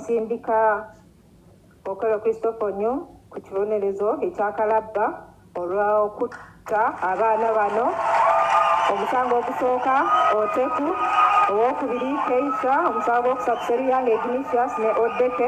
Sindika Okello Christopher Onyo ku kibonerezo ekyakalabba olw'okutta abaana bano omusango ogusooka oteku owokubiri keisa omusango gwokusatu seruyanga ignatius ne odeke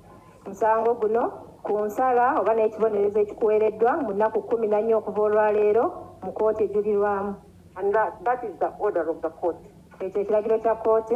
musango guno ku nsala oba n'ekibonerezo ekikuweereddwa mu nnaku kkumi na nnya okuva olwaleero mu kkooti ejulirwamu ekyo ekiragiro kya kkooti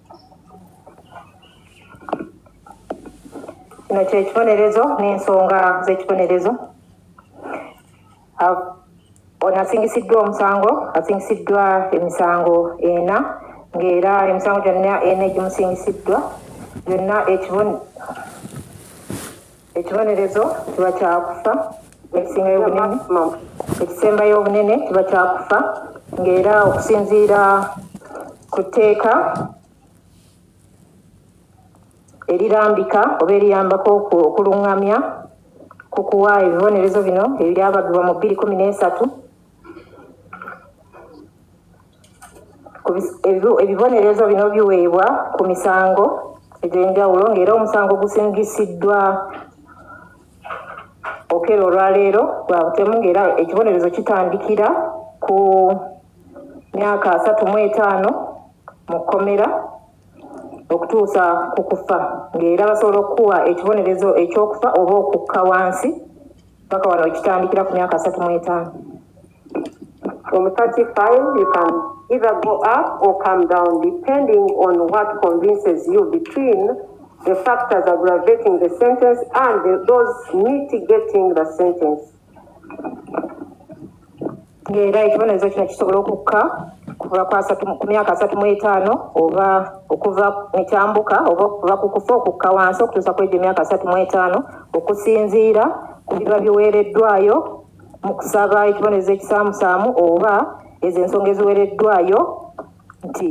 kino kyekibonerezo n'ensonga z'ekibonerezo ono asingisiddwa omusango asingisiddwa emisango ena ng'era emisango gyonna ena egimusingisiddwa yonna ekibone ekibonerezo kiba kyakufa ekisingayo obunene ekisembayo obunene kiba kyakufa ngaera okusinziira ku tteeka erirambika oba eriyambako okulungamya ku kuwa ebibonerezo bino ebyabagibwa mu bbiri kumi n'esatu ebibonerezo bino biweebwa ku misango egy'enjawulo ng'era omusango gusingisiddwa okera olwaleero gwa butemu ng'era ekibonerezo kitandikira ku myaka asatu mu etaano mu kkomera okutuusa ku kufa ng'era basobola okukuwa ekibonerezo eky'okufa oba okukka wansi paka wano wekitandikira ku myaka asatu mu etaano From 35, you can either go up or come down depending on what convinces you between the factors aggravating the sentence and the, those mitigating the sentence. ng'era ekibonerezo kino kisobola okukka kuva ku myaka asatu mu etaano oba okuva ekyambuka oba okuva ku kufa okukka wansi okutuusa ku egyo emyaka asatu mu etaano okusinziira ku biba biweereddwayo mu kusaba ekibonerezo ekisaamusaamu oba ezo ensonga eziwereddwayo nti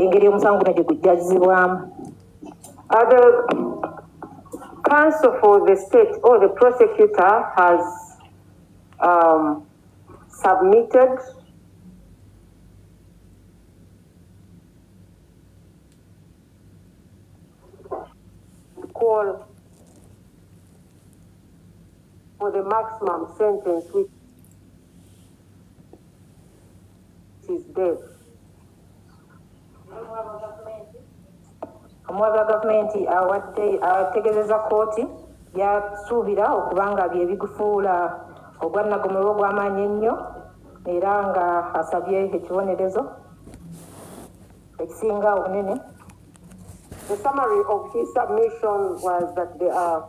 engeri omusango guno gye gujjazibwamu counsel for the state or the prosecutor has um, submitted call for the maximum sentence which is death. omuwabi wa gavumenti awadde ategezeza kooti byasuubira okuba nga byebigufuula ogwannagomerwa ogw'amaanyi ennyo era nga asabye ekibonerezo ekisinga obunene The summary of his submission was that there are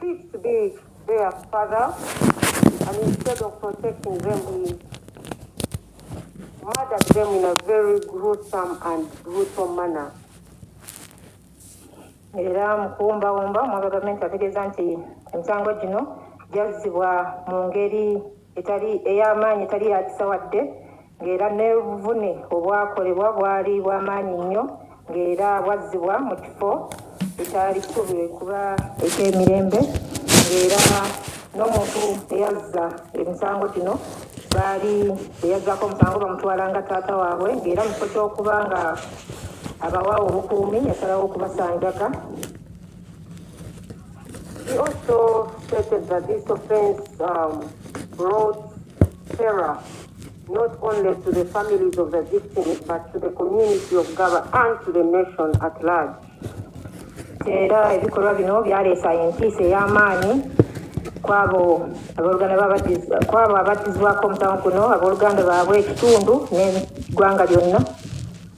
Seems to be their father and instead of protecting them he murdered them in a very gruesome and brutal manner. era mu kuwumbawumba omwami wa gavumenti ategeeza nti emisango gino gyazzibwa mu ngeri etali ey'amaanyi etali yakisa wadde ng'era n'obuvune obwakolebwa bwali bw'amaanyi nnyo ng'era bwazzibwa mu kifo ekyali kisuubirwe kuba eky'emirembe ng'era n'omuntu eyazza emisango gino baali eyazzako omusango bamutwala nga taata waabwe ng'era mu kifo ky'okuba nga abawa obukuumi yasalawo okubasanjaga He also stated that this offense um, brought terror not only to the families of the victims but to the community of Gaba and to the nation at large. era ebikolwa bino byaleesa entiisa ey'amaanyi kwabo kwabo abattizibwako omusango guno abooluganda baabwe ekitundu n'eggwanga lyonna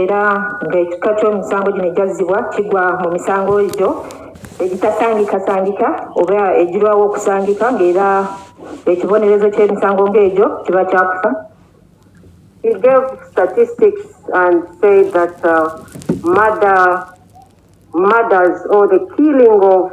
era ng'ekika ky'omusango gino egyazzibwa kigwa mu misango egyo egitasangikasangika oba egirwawo okusangika ng'era ekibonerezo ky'emisango ng'egyo kiba kyakufa He gave statistics and said that uh, murder, murders or the killing of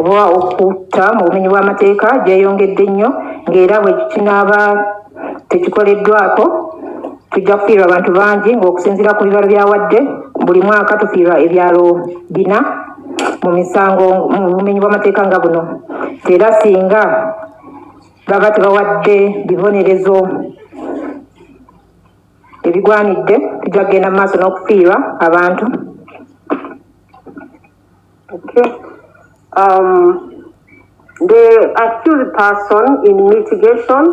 oba okutta mu bumenyi bw'amateeka gyeyongedde nnyo ng'era bwe kinaaba tekikoleddwako tujja kufiirwa abantu bangi ng'okusinziira ku bibalo byawadde buli mwaka tufiirwa ebyalo bina mu misango mu bumenyi bw'amateeka nga buno era singa baba tebawadde bibonerezo ebigwanidde tujja kugenda mu maaso n'okufiirwa abantu Okay. Um, the accused person in mitigation,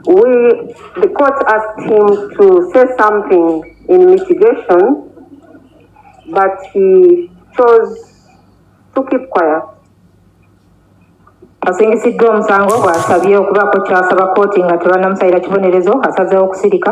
we, the court asked him to say something in mitigation, but he chose to keep quiet. asingisiddwa omusango bw'asabye okubaako ky'asaba kkooti nga tebanamusayira kibonerezo asazeewo okusirika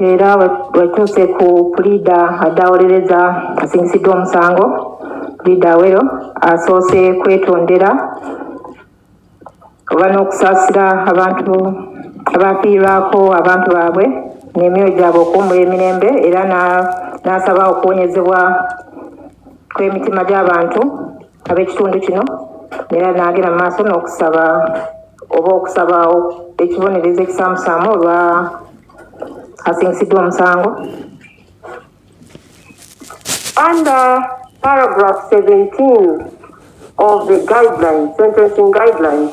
era wetuuse ku puliida adaawolereza asingisiddwa omusango puliida awero asoose kwetondera oba n'okusaasira abantu abafiirwako abantu baabwe n'emyoyo gyabwe okuwummula emirembe era n'asaba okuwonyezebwa kw'emitima gy'abantu ab'ekitundu kino era n'agenda mu maaso n'okusaba oba okusaba ekibonerezo ekisaamusaamu olwa asingisiddwa omusango under paragraph 17 of the guidelines sentencing guidelines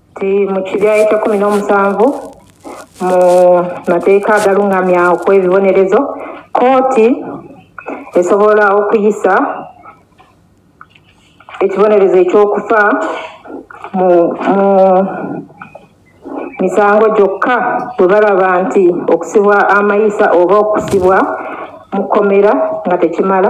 mu kibya ekyekumi n'omusanvu mu mateeka agalungamya okwebibonerezo kooti esobola okuyisa ekibonerezo ekyokufa mu misango gyokka bwe balaba nti okusibwa amayisa oba okusibwa mu kkomera nga tekimala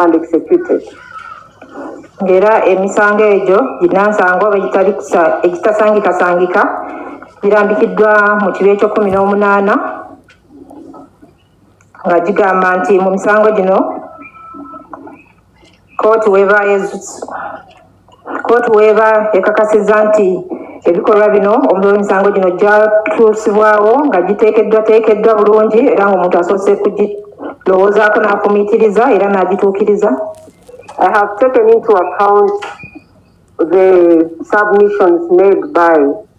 and executed ng'era emisango egyo ginansango egitasangikasangika girambikiddwa mu kibi ekyokumi n'omunaana nga gigamba nti mu misango gino kooti weba yezusu Kkooti weeba ekakasizza nti ebikolwa bino omulola emisango gino gyatuusibwawo nga giteekeddwateekeddwa bulungi era ng'omuntu asoose kugirowoozaako n'afumiitiriza era n'agituukiriza I have taken into account the submissions made by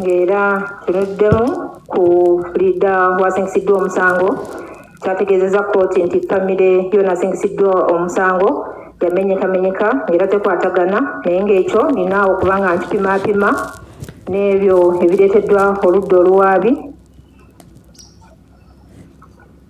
ng'era kinuddemu ku liida wasingisiddwa omusango kyategeezezza kkooti nti famire yona asingisiddwa omusango yamenyekamenyeka ng'era tekwatagana naye ng'ekyo nina okuba nga nkipimaapima n'ebyo ebireeteddwa oludda oluwaabi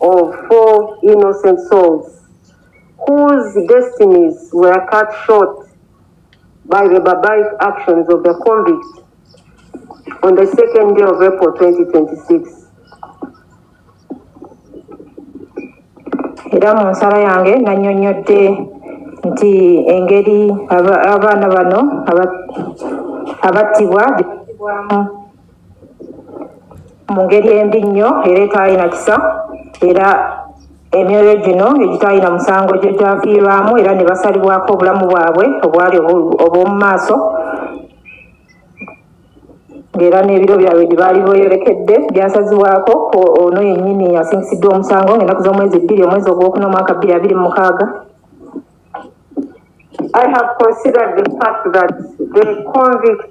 of four innocent souls whose destinies were cut short by the barbaric actions of the convicts on the second day of April 2026. era mu nsala yange nannyonnyodde nti engeri abaana bano abattibwa mu ngeri embi nnyo era etaalina kisa era emyoyo gino egitaalina musango gyo gyafiirwamu era ne basalibwako obulamu bwabwe obwali obw'omu maaso ng'era n'ebiro byabwe gye baali boyolekedde byasazibwako ono yennyini asingisiddwa omusango ng'ennaku z'omwezi bbiri omwezi ogwokuna omwaka bbiri abiri mu mukaaga I have considered the fact that the convict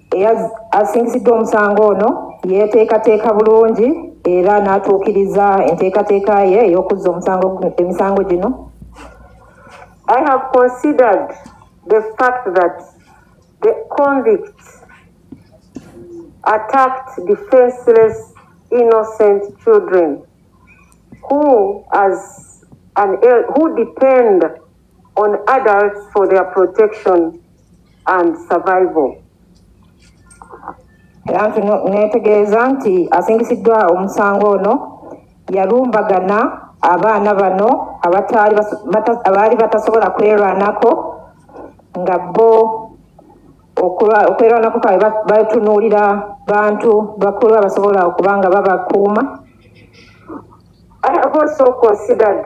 Asingiziddwa omusango ono yeeteekateeka bulungi era n'atuukiriza enteekateeka ye ey'okuzza omusango emisango gino I have considered the fact that the convict attacked defenseless innocent children who as an who depend on adults for their protection and survival. era nti no- neetegeeza nti asingisiddwa omusango ono yalumbagana abaana bano abataali bas- bata- abaali batasobola kwerwanako nga bo okulwa- okwerwanako kwabwe ba- batunuulira bantu bakulu abasobola okuba nga babakuuma I have also considered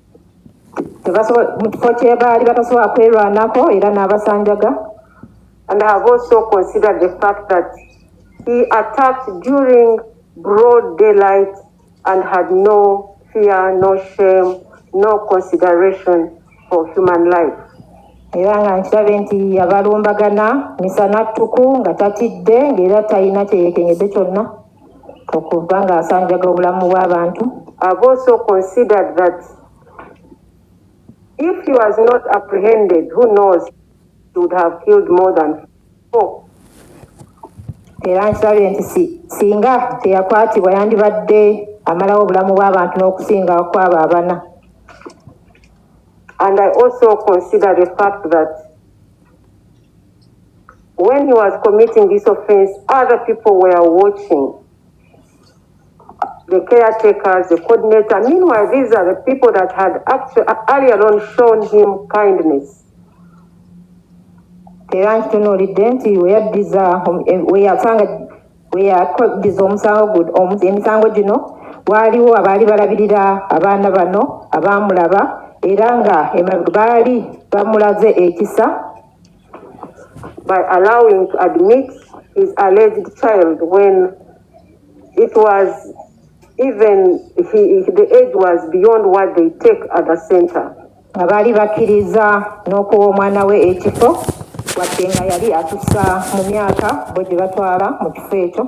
mu kifo kyebaali batasobola kwerwanako era n'abasanjaga and have also considered the fact that he attacked during broad daylight and had no fear no shame no consideration for human life era nga nkirabe nti yabalumbagana misana ttuku nga tatidde ngaera talina kyeyekenyedde kyonna okuva ng'asanjaga obulamu bw'abantu I've also considered that if he was not apprehended who knows he would have killed more than four era nkirabye nti singa teyakwatibwa yandibadde amalawo obulamu bw'abantu n'okusinga kwabo abana and i also consider the fact that when he was committing this offense, other people were watching. The caretakers, the coordinator. Meanwhile, these are the people that had actually earlier on shown him kindness. era nkitunuulidde nti weyaddiza weyasanga weyaddiza omusango emisango gino waaliwo abaali balabirira abaana bano abaamulaba era nga baali bamulaze ekisa by allowing to admit his alleged child when it was even he, the age was beyond what they take at the center nga baali bakkiriza n'okuwa omwana we ekifo wadde nga yali atusa mu myaka bo gye batwala mu kifo ekyo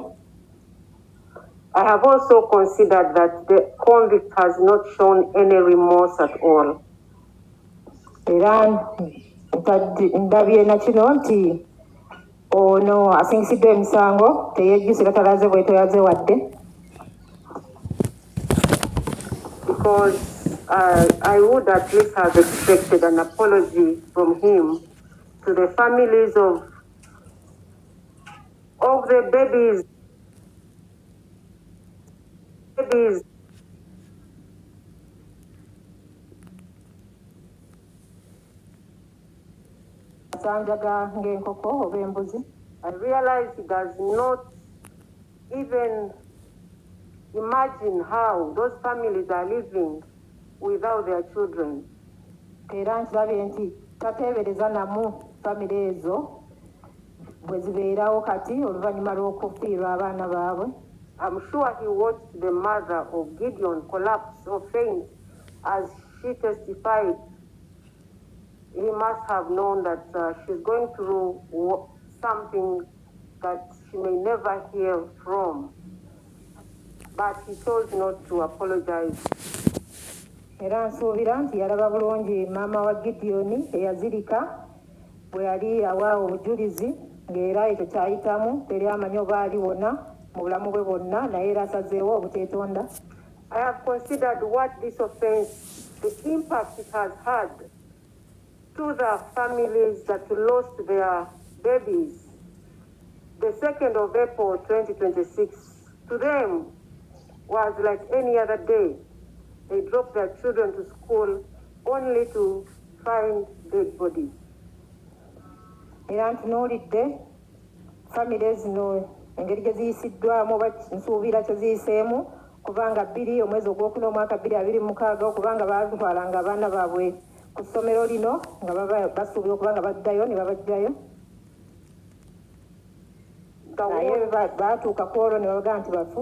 I have also considered that the convict has not shown any remorse at all. era ndabye nakino nti ono asingisiddwa emisango teyejjusa era talaze bwetoyaze wadde because uh, I would at least have expected an apology from him to the families of of the babies babies asanjaga ng'enkoko oba embuzi i realize he does not even imagine how those families are living without their children era nkirabye nti tateebereza namu famire ezo bwe zibeerawo kati oluvannyuma lw'okufiirwa abaana baabwe I'm sure he watched the mother of Gideon collapse or faint as she testified he must have known that uh, she's going through something that she may never hear from but he chose not to apologize era nsuubira nti yalaba bulungi maama wa gidiyoni eyazirika bwe yali awa obujulizi ng'era ekyo ky'ayitamu teri amanyi oba aliwona mu bulamu bwe bwonna naye era asazeewo obuteetonda I have considered what this offense, the impact it has had to the families that lost their babies the 2nd of April 2026 to them was like any other day. They dropped their children to school only to find dead body era ntunuulidde famire zino engeri gye ziyisiddwamu oba nsuubira kye ziyiseemu kubanga bbiri omwezi ogwokuna omwaka bbiri abiri mukaaga okubanga baatwalanga abaana baabwe ku ssomero lino nga baba basuubira okuba nga baddayo ne babajjayo naye baatuuka ku olwo ne babaga nti bafu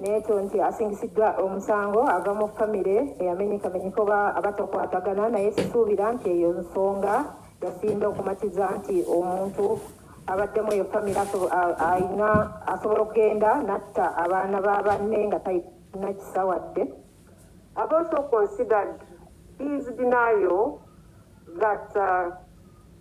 nekyo nti asingisiddwa omusango ava mu famire eyamenyekamenyeka oba abatakwatagana naye sisuubira nti eyo nsonga yasinda okumatiza nti omuntu abaddemu eyo famire alina asobola okugenda natta abaana ba banne nga talina kisa wadde I've also considered his denial that uh,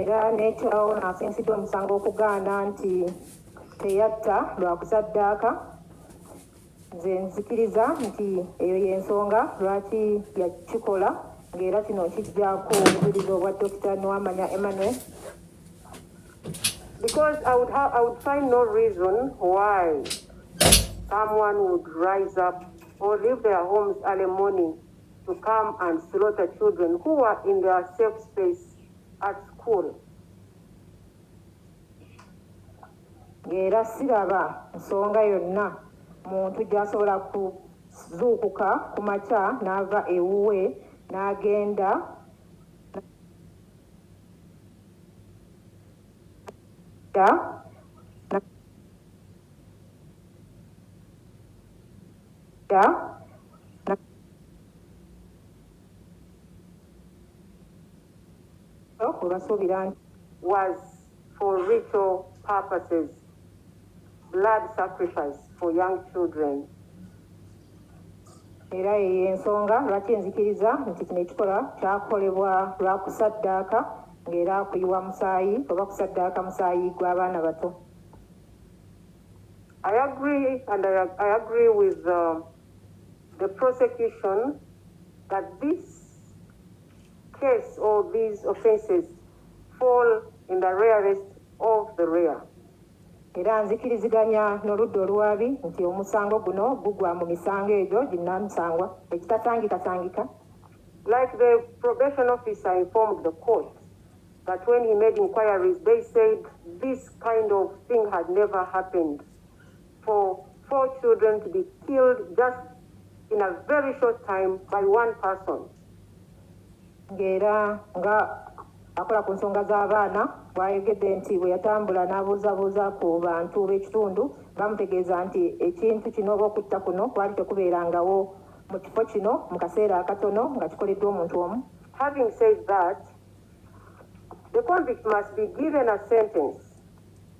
era n'ekirawo n'asinzidde omusango okugaana nti teyatta lwakusaddaaka nze nzikiriza nti eyo y'ensonga lwaki yakikola ng'era kino kijja kuwuliriza obwa dokita niwamanya emmanuel because I would, have, I would find no reason why someone would rise up or leave their homes early morning to come and slaughter children who were in their safe space at school era siraba nsonga yonna muntu gyasobola kuzuukuka ku makya n'ava ewuwe n'agenda Yeah. obasuubira nti was for ritual purposes blood sacrifice for young children era eyo ensonga lwaki nzikiriza nti kino ekikola kyakolebwa lwa kusaddaaka ng'era kuyiwa musaayi oba kusaddaaka musaayi gw'abaana bato I agree and I, I agree with um, the prosecution that this case or these offences fall in the rarest of the rare. era nzikiriziganya n'oludda oluwaabi nti omusango guno gugwa mu misango egyo ginnamusangwa ekitasangikasangika like the probation officer informed the court that when he made inquiries they said this kind of thing had never happened for four children to be killed just in a very short time by one person ng'era nga akola ku nsonga z'abaana bwayogedde nti bwe yatambula n'abuuzabuuza ku bantu b'ekitundu bamutegeeza nti ekintu kino oba okutta kuno kwali tekubeerangawo mu kifo kino mu kaseera akatono nga kikoleddwa omuntu omu having said that the convict must be given a sentence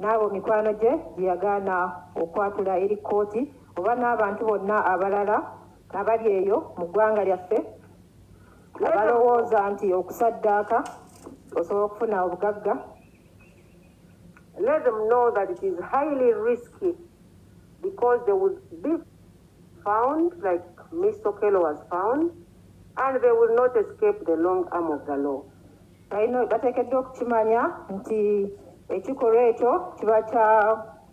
n'abo mikwano gye gye yagaana okwatula eri kkooti oba n'abantu bonna abalala abali eyo mu ggwanga lyaffe abalowooza nti okusaddaaka osobola okufuna obugagga let them know that it is highly risky because they will be found like Mr. Kello was found and they will not escape the long arm of the law. balina bateekeddwa okukimanya nti ekikolwa ekyo kiba kya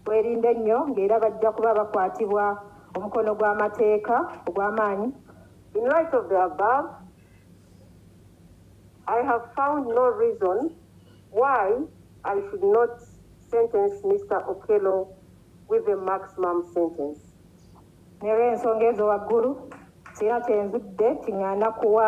bwerinde ennyo ng'era bajja kuba bakwatibwa omukono gw'amateeka ogw'amaanyi in light of the above i have found no reason why i should not sentence mr okelo with a maximum sentence nera ensonga ezo waggulu sirina kyenzudde kiŋŋaana kuwa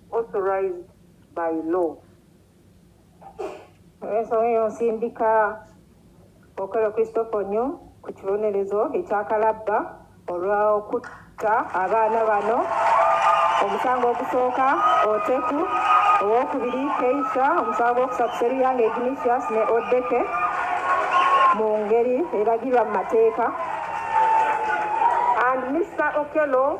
authorized by law. Ensonga eyo nsindika Okello Christopher Onyo ku kibonerezo ekyakalabba olw'okutta abaana bano omusango ogusooka Oteku, owokubiri Keisha, omusango gwokusatu Seruyanga Ignatius ne Odeke mu ngeri eragirwa mu mateeka and Mr Okello